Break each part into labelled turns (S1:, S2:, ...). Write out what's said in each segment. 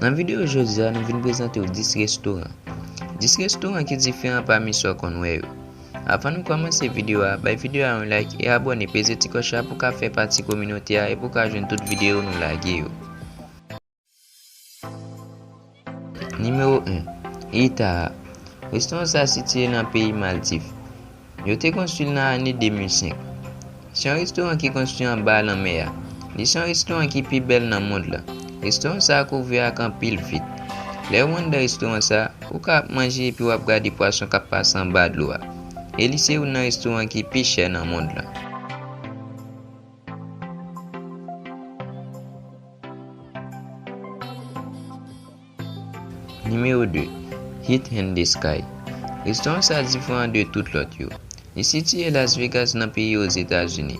S1: Nan video jodi a nou vin prezante w 10 restoran 10 restoran ki diferan pami sa w konn wè yo. Avan nou kòmanse video a bay video a yon like e abòne peze ti kòch la pou w ka fè pati kominote a e pou w ka jwenn tout video nou lage yo. Nimewo 1, Itaha, Restoran sa sitiye nan peyi Maldiv. Yo te konstwi l nan ane 2005. Se yon restoran ki konstwi anba lanmè a. Li se yon restoran ki pi bèl nan mond la. Restoran sa a kouvè ak anpil vit. Lè ou anndan restoran sa a, ou ka ap manje epi w ap gade pwason k ap pase anba dlo a. E li se youn nan restoran ki pi chè nan mond la. Nimewo 2, Hit in the Sky. Restoran sa diferan de tout lòt yo. Li sitiye Las Vegas nan peyi Ozetazini.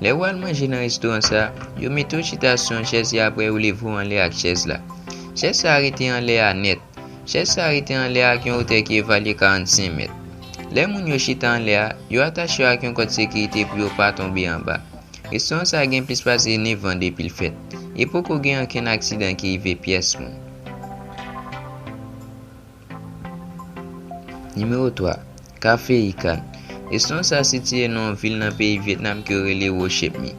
S1: Lè ou al manje nan restoran sa, yo mete ou chita sou yon chèz e aprè yo leve ou anlè ak chèz la. Chèz sa a rete anlè a nèt. Chèz sa a rete anlè a ak yon otè ki evalye 45 mèt. Lè moun yo chita anlè a, yo atache yo ak yon kòd sekirite pou yo pa tonbe anba. Restoran sa gen plis pase 9 an depi l fèt, e poko gen ankenn aksidan ki rive pyès moun. Nimewo 3, Ka Fe Y Can. Restoran sa sitiye nan yon vil nan peyi Vyetnam ke yo rele Ho Chep Mi.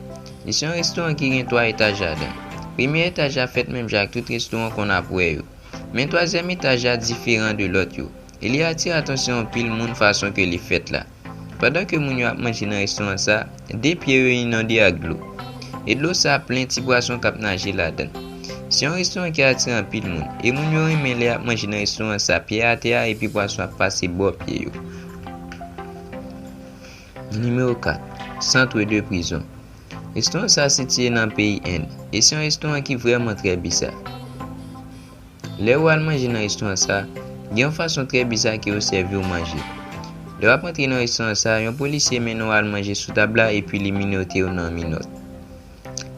S1: Li se yon restoran ki gen 3 etaj ladan. Premye etaj la fèt menm jan ak tout restoran w konn ap wè yo. Men twazyèm etaj la diferan de lòt yo, e li atire atansyon anpil moun fason ke li fèt la. Pandan ke moun yo ap manje nan restoran sa a, de pye yo inonde ak dlo. E dlo sa a plen ti pwason k ap naje ladan l. Se yon restoran ki atire anpil moun, e moun yo renmen lè y ap manje nan restoran sa a pye atè a epi pwason ap pase bò pye yo. Nimewo 4, Centre de Prison Restoran sa a sitiye nan peyi End, e se yon restoran ki vrèman trè biza. Lè ou al manje nan restauran sa, gen yon fason trè biza ke yo sèvi ou manje. Lè wap antre nan restauran sa, yon polisye mennen ou al manje sou tab la epi li minote ou nan minòt.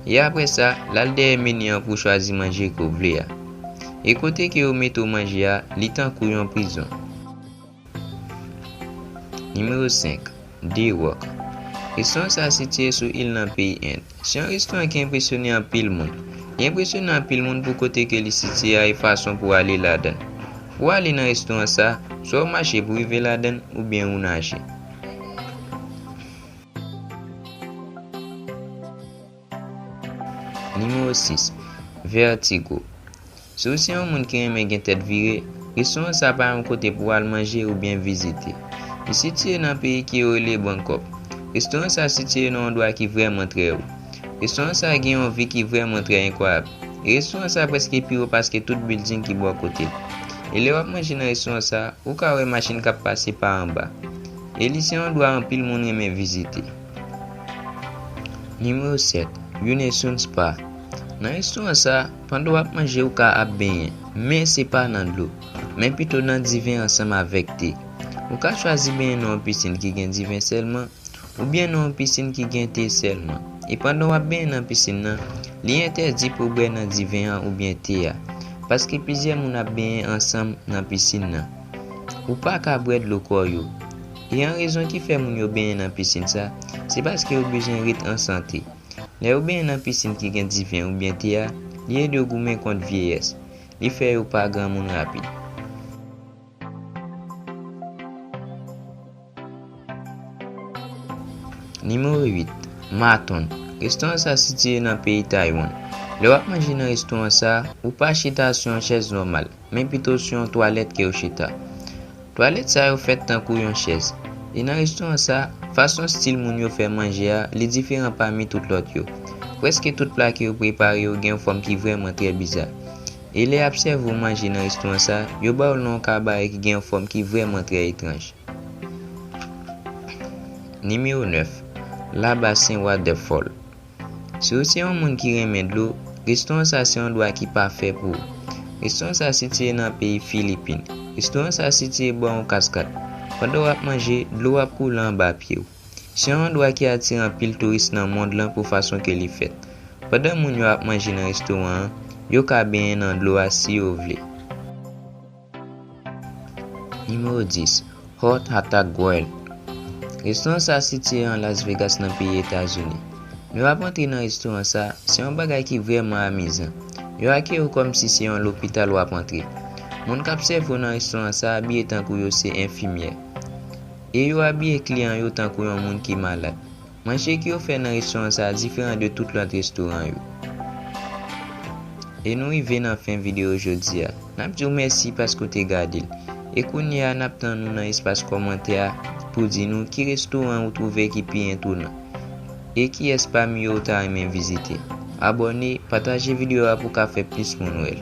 S1: E apre sa, lal dèyè meni an pou chwazi manje ke ou vle a. E kote ke yo mete ou manje a, li tankou yon prizon. Nimewo 5, Dee Rock Restoran sa sitiye sou il nan peyi End. Se yon restoran ki enpresyone anpil moun. Li enpresyone anpil moun pou kote ke li sitiye a e fason pou ale ladann. Pou ale nan restoran sa, swa ou mache pou rive ladann oubyen ou naje. Nimewo 6, Vètigo Si w se yon moun ki renmen gen tèt vire, restoran sa pa yon kote pou w al manje oubyen vizite. Li sitiye nan peyi ki yo rele Bangkok. Restoran sa sitiye nan yon dwa ki vrèman trè wo. Restoran sa gen yon vi ki vrèman trè enkwayab. E restoran sa prèske pi wo paske tout bilding ki bò kote l. E lè w ap manje nan restoran sa, ou ka wè machin k ap pase pa anba. E li se yon dwa anpil moun renmen vizite. Nimewo 7, Youn e Soun Spa Nan istwa sa, pandan w ap manje ou ka ap benyen, men se pa nan dlo, men pito nan diven ansanm avèk te. Ou ka chwazi benyen nan yon pisin ki gen diven sèlman, oubyen nan yon pisin ki gen te sèlman. E pandan w ap benyen nan pisin nan, li entèdi pou w bwè nan diven an oubyen te a, paske plizyè moun ap benyen ansanm nan pisin nan. Ou pa ka bwè dlo kò yo. Yon rezon ki fè moun yo benyen nan pisin sa, se paske yo bezwen ret an sante. Lè yo benyen nan pisin ki gen diven oubyen te a, li ede yo goumen kont vyeyès. Li fè yo pa granmoun rapid. Nimewo 8, Maton. Restoran sa sitiye nan peyi Taywann. Lè w ap manje nan restoran sa, ou pa chita sou yon chèz nòmal. men pito sou yon twalèt ke yo chita. Twalèt sa yo fèt tankou yon chèz. E nan restoran sa, fason stil moun yo fè manje a, li diferan pami tout lòt yo. Prèske tout pla ke yo prepare yo gen yon fòm ki vrèman trè biza. E lè y'ap sèvi w manje nan restoran sa, yo ba w nan yon kabare ki gen yon fòm ki vrèman trè etranj. Nimewo 9, La Bas Sen Wadèfòl. Si w se yon moun ki renmen dlo, restoran sa se yon dwa ki pafè pou ou. Restoran sa sitiye nan peyi Filipin. Restoran sa sitiye bò yon kaskad. Pandan w ap manje, dlo w ap koule anba pye w. Se yon andwa ki atire anpil touris nan mond lan pou fason ke li fèt. Pandan moun yo ap manje nan restoran an, yo ka benyen nan dlo a si yo vle. Nimewo 10, Heart Attack World Restoran sa sitiye an Las Vegas nan peyi Etazini. Nou ap antre nan restoran sa, se yon bagay ki vrèman amizan. Yo akeyi w kòm si se yon lopital w ap antre. Moun k ap sèvi w nan restoran sa abiye tankou yo se enfimyè. E yo abiye kliyan yo tankou yon moun ki malad. Manje ki ofè nan restoran sa a diferan de tout lòt restoran yo. E nou rive nan fen videyo jodi a. N ap di w mèsi paske w te gade l. E kounye a n ap tann ou nan espas kòmantè a pou w di nou ki restoran ou twouve ki pi entonan. E kiyès pami yo ou ta renmen vizite. Abòne, pataje videyo a pou w ka fè plis moun wè l.